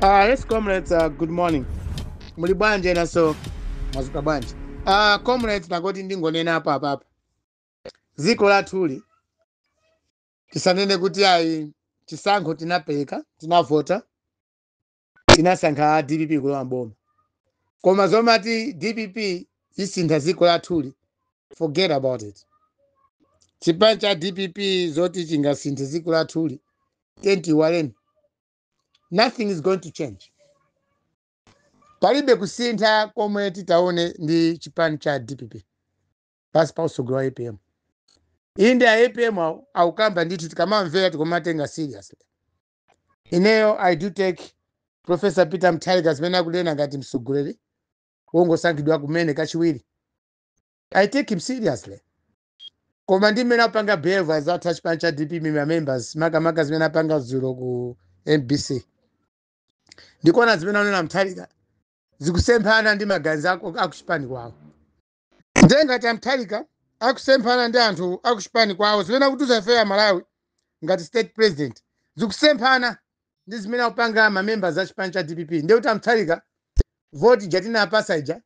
Uh, yes, comrades, uh, good morning. Muli bwanji enanso mwazuka bwanji. Uh, comrades nati ndingonena apapapa. Ziko lathuli tisanene kuti ayi chisankho tinapita tinavota tinasankha DPP kulowa mboma. Koma zomati DPP isintha ziko lathuli forget about it. Chipani cha DPP zoti chingasinthe ziko lathuli tiyeni tiiwale nothing is going to change palibe kusintha komwe titaone ndi chipani cha dpp pasi pa utsogoleri wa apm inde a apm awo akukamba ndithu tikamawamvera tikumawatenga seriously ineyo i do take professor peter mutharika zimene akunena ngati mtsogoleri wongosankhidwa kumene kachiwiri i take him seriously Koma ndi mmene akupanga behave azathu a chipani cha DPP ma members makamaka zimene apanga dzulo ku MBC. Ndikuona zimene anena Mutharika zikusemphana ndi maganizo ako- akuchipani kwawo. Ndiye ngati a Mutharika akusemphana ndi anthu akuchipani kwawo zimene akutiuza ife a Malawi ngati state president zikusemphana ndi zimene akupanga ma members a chipani cha DPP. Ndiye kuti a Mutharika voti ija tinawapasa ija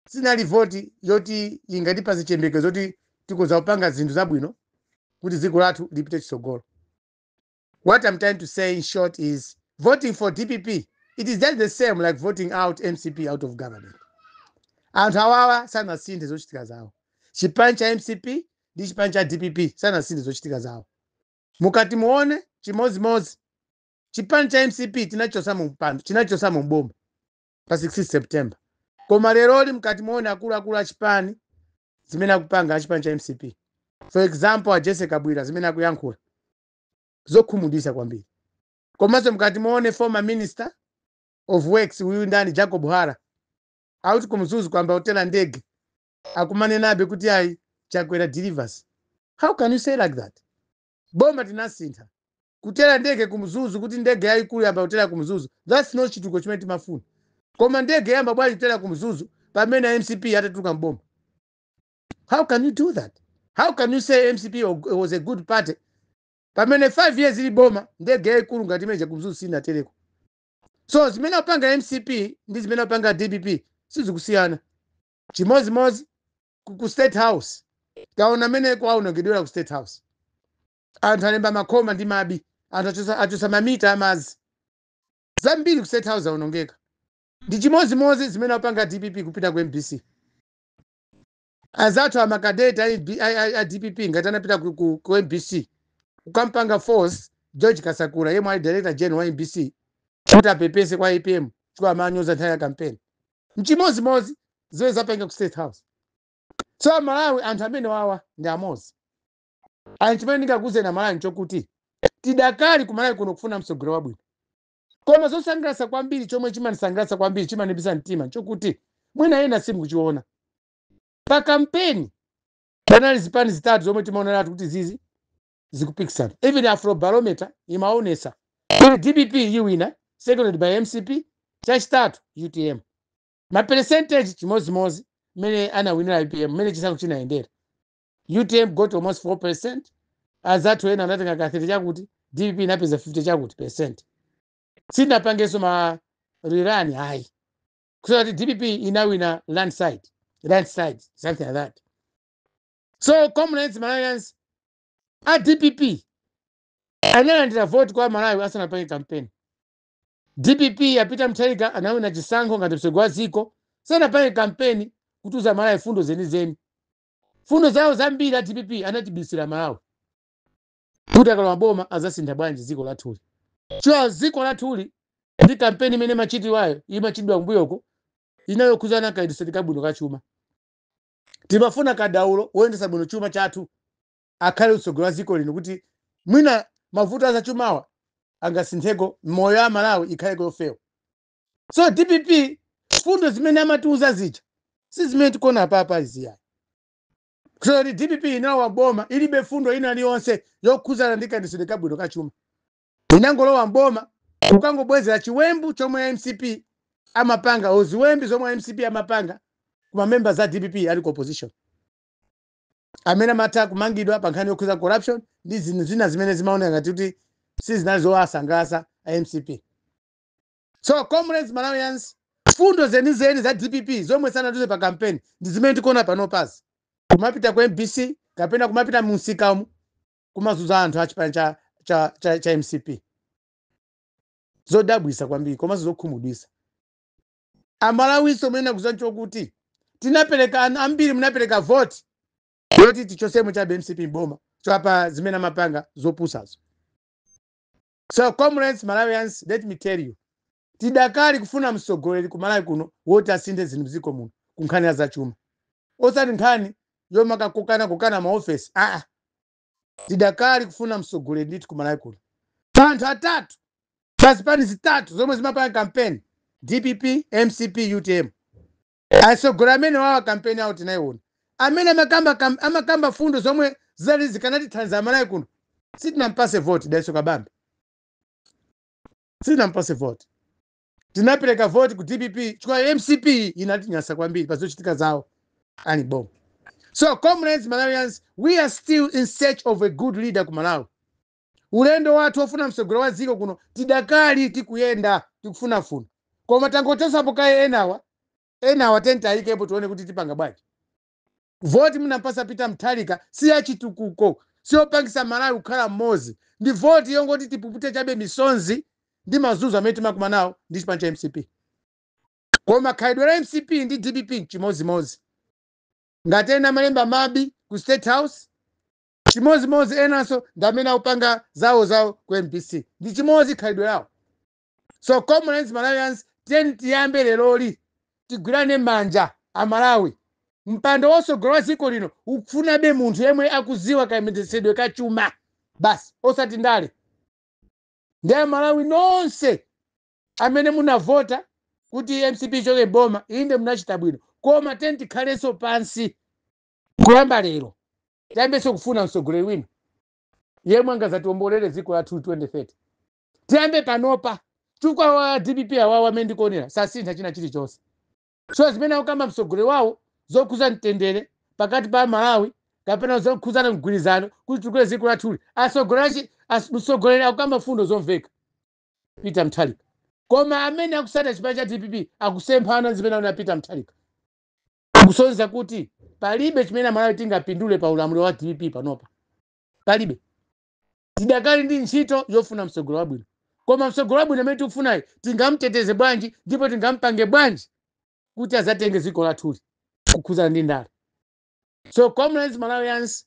sinali voti yoti ingatipatse chiyembekezo zoti tikhoza kupanga zinthu zabwino kuti dziko lathu lipite chitsogolo what i'm trying to say in short is voting for dpp it is just the same like voting out mcp out of government anthu awawa sanasinthe zochitika zawo chipani cha mcp ndi chipani cha dpp sanasinthe zochitika zawo mukati muone chimodzimodzi chipani cha mcp tinachosa mu mpando tinachosa mu boma pa 16 september koma leroli mukati muone akuluakulu achipani zimene akupanga achipani cha mcp for example a jessie kabwila zimene akuyankhula zokhumudwisa kwambiri komanso mukati muone former minister of works uyu ndani jacob hara akuti ku mzuzu kwayamba kutera ndege akumanenabe kuti ayi chakwera delivers how can you say like that boma tinasintha kutera ndege ku mzuzu kuti ndege yayikulu yayamba kutera ku mzuzu thats not chituko chimene timafuna koma ndege yayamba bwanji kutera ku mzuzu pamene a mcp atatuluka mboma how can you do that how can you say mcp wa- was a good party pamene five years ili mboma ndege yayikulu ngati imeneja ku mzuzu sinatereko so zimene akupanga mcp ndi zimene akupanga dpp sizikusiyana chimodzimodzi ku ku state house taona mmene kwaonongedwera ku state house anthu alemba makhoma ndi mabvi anthu achosa, achosa mamita amazi zambiri ku state house aonongeka ndi chimodzimodzi zimene apanga dpp kupita ku mbc anzathu amakadeti a, MB a, a, a dpp ngati anapita ku, ku, ku mbc kukampanga force george kasakula yemwe ali director general wa mbc kuti apepese kwa apm chifukwa amanyoza nthawi ya kampeni mchimodzimodzi zimene zapanga ku state house so amalawi anthu amene wawa ndi amodzi and chimene ndingakuuzeni amalawi nchokuti tidakali kumalawi kuno kufuna mtsogoleri wabwino koma zosangalatsa kwambiri chomwe chimandisangalatsa kwambiri chimandiwiritsa mtima nchokuti mwina ena simukuchiona pa kampeni panali zipani zitatu zomwe timaoneratu kuti zizi zikupikisana even afrobarometer imaonesa kuti dpp iwina seconded by mcp chachitatu utm maperesenteji chimodzimodzi mmene anawinira ipm mmene chisankho chinayendera utm got almost 4 percent azathu ena anatenga ka 30 chakuti dpp inapeza 50 chakuti percent sinapangenso ma rirani ayi kusonyeza kuti dpp inawina landslide landslide something like that so comrades malawians a dpp analandira voti kwa amalawi asanapange kampeni dpp ya peter mutharika anawina chisankho ngati mtsogoleri wa dziko sanapange kampeni kutiuza amalawi fundo zenizeni fundo zawo zambiri a dpp anatibisira amalawi kuti akalowa mboma azasintha bwanji dziko lathuli chifukwa dziko lathuli ndi kampeni imene imachitikayo imachitidwa kumbuyoko inali yokhudzana kayendetsedwe kabwino ka chuma timafuna kadaulo woyendetsa bwino chuma chathu akhale mtsogoleri wa dziko lino kuti mwina mavuto azachumawa angasintheko miyoyo ya amalawi ikhaleko yofewa so dpp mfundo zimene amatiuza zija si zimene tikuona apapa izi ayi kusonyeza kuti dpp inalowa mboma ilibe fundo ina iliyonse yokhudzana ndi kayendetsedwe kabwino ka chuma inangolowa mboma kukangobwezera chiwembu chomwe mcp amapanga or ziwembu zomwe mcp amapanga ku mamemba za dpp ali ku opposition amene amatha kumangidwa pa nkhani yokhudza corruption ndi zinthu zina zimene zimaoneka ngati kuti sizinali zowasangalatsa a mcp so comrades malawians fundo zenizeni za dpp zomwe sanatiuze pa kampeni ndi zimene tikuona panopazi kumapita ku mbc kapena kumapita mu msikamu kumazuza anthu a chipani cha, cha, cha, cha mcp zodabwisa kwambiri komanso zokhumudwisa amalawinso mene akuziwa nchokuti tinapereka an- ambiri munapereka voti yoti tichosemo chabe mcp mboma chifukwa cha zimene amapanga zopusazo So comrades Malawians let me tell you tidakali kufuna mtsogoleri ku Malawi kuno woti asinthe zinthu mdziko muno ku nkhani ya zachuma osati nkhani yomakakokanakokana maofesi aa tidakali kufuna mtsogoleri ndithu ku Malawi kuno pa anthu atatu pa zipani zitatu zomwe zimapanga kampeni dpp mcp utm atsogoleri amenewawa kampeni yawo tinayiona amene amakamba kam- amakamba fundo zomwe zinali zikanatithandiza amalawi kuno sitinampase voti daiso kabambe sitinampase voti tinapereka voti ku dpp chifukwa mcp inatinyasa kwambiri pa zochitika zawo ali mboma so comrades malawians we are still in search of a good leader ku malawi Ulendo wathu wofuna mtsogoleri wa dziko kuno tidakali tikuyenda, tikufunafuna. Koma tangochotsapo kaye enawa, enawa tiyeni tiayikepo tione kuti tipanga bwanji. Voti munampatsa Peter Mutharika si ya chitukuko, si yopangitsa Malawi kukhala mmodzi. Ndi voti yongoti tipupute chabe misonzi ndi mazunzo amene timakumana nawo ndi chipani cha mcp. Koma khalidwe la mcp ndi dpp chimodzimodzi. Ngati ena amalemba mabi ku state house, chimodzimodzi enanso ndi amene akupanga zawo zawo ku mbc ndi chimodzi khalidwe lawo so comrades malawians tiyeni tiyambe leroli tigwirane manja amalawi mpando wotsogolera dziko lino ukufunabe munthu yemwe akudziwa kayendetsedwe ka chuma basi osati ndale ndiye amalawi nonse amene munavota kuti mcp ichoke mboma inde munachita bwino koma tiyeni tikhalenso pansi kuyamba lero tiyambenso kufuna mtsogoleri wina yemwe angazatiombolere dziko lathuli 2030 tiyambe panopa chifukwa wa dpp awawa amene ndikuonera sasintha china chilichonse so zimene akukamba mtsogoleri wawo zokhuza mtendere pakati pa malawi kapena zokhuzana mgwirizano kuti titukule dziko lathuli atsogoleri as- mtsogoleri akukamba mfundo zomveka peter mutharika koma amene akutsata chipani cha dpp akusemphana zimene akunena peter mutharika kusonyeza kuti palibe chimene amalawi tingapindule pa ulamuliro wa dpp panopa palibe tidakali ndi ntchito yofuna mtsogoleri wabwino koma mtsogoleri wabwino amene tikufunayo tingamteteze bwanji ndipo tingampange bwanji kuti azatenge dziko lathuli kukhuzana ndi ndale so comrades malawians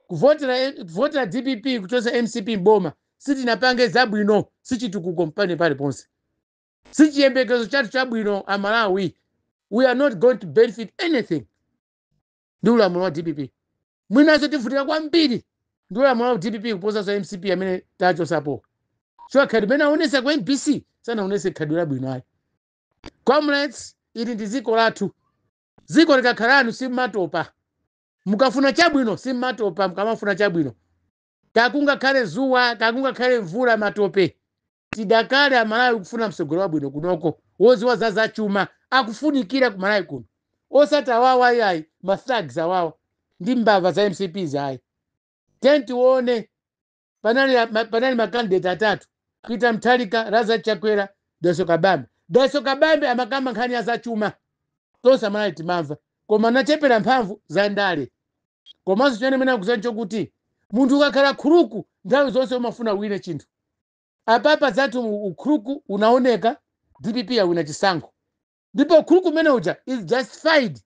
kuvotera kuvotera dpp kuchotsa mcp mboma sitinapange zabwino sichitukuko mpang'ono paliponse sichiyembekezo chathu chabwino a malawi we are not going to benefit anything ndi ulamuliro wa dpp mwinanso tivutika kwambiri ndi ulamuliro wa dpp kuposanso mcp amene tachosapo chifukwa khadi imene aonesa ku mbc sanaonese khadi labwino ayi comrades ili ndi dziko lathu dziko likakhala lanu simumatopa mukafuna chabwino simumatopa mukamafuna chabwino kakungakhale zuwa kakungakhale mvula matope Tidakali a Malawi kufuna mtsogoleri wabwino kunoko woziwa za zachuma akufunikira ku Malawi kuno osati awawa ayi ayi ma thugs awawa ndi mbava za mcp izi ayi tiyeni tione panali a- ma- panali ma candidate atatu Peter Mutharika Lazarus Chakwera Dalitso Kabambe Dalitso Kabambe amakamba nkhani ya zachuma tonse a Malawi timamva koma anachepera mphamvu za ndale komanso chimene nimene nikuuzani chokuti munthu ukakhala khuluku nthawi zonse umafuna uwine chinthu apapa zathu u- ukhuluku unaoneka dpp awina chisankho ndipo ukhuluku umene uja is justified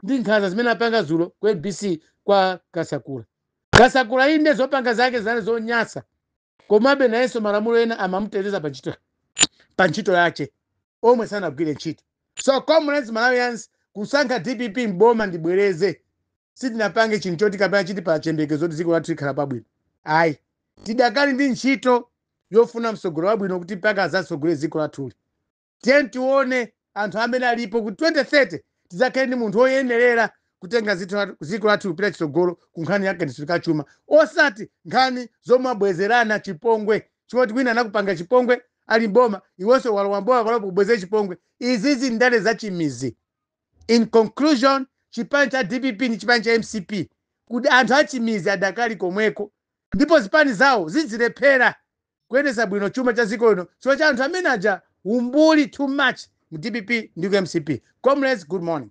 ndi nkhanza zimene apanga zulo ku mbc kwa kasakula kasakula inde zopanga zake zinali zonyasa komabe nayenso malamulo ena amamuteteza pa ntchito yache omwe sanagwire ntchito so comrades malawians kusankha dpp mboma ndibwereze sitinapange chinthu choti kapena chitipatsa chiyembekezo kuti dziko lathu likhala pabwino ayi tidakali ndi ntchito yofuna mtsogolo wabwino kuti mpaka azatsogolere dziko lathuli tiyeni tione anthu amene alipo kuti 2030 tidzakhale ndi munthu woyenerera kutenga zithu la- dziko lathu kupita chitsogolo ku nkhani ya kayendetsedwe ka chuma osati nkhani zomabwezerana chipongwe choti wina anakupanga chipongwe ali mboma iwonso alowa mboma palipo kubwezera chipongwe izizi ndale za chimizi in conclusion chipani cha dpp ndi chipani cha mcp kuti anthu achimizi adakali komweko ndipo zipani zawo zidzilephera kuyendetsa bwino chuma cha dziko lino chifukwa cha anthu amene aja umbuli too much mu dpp ndi ku mcp comrades good morning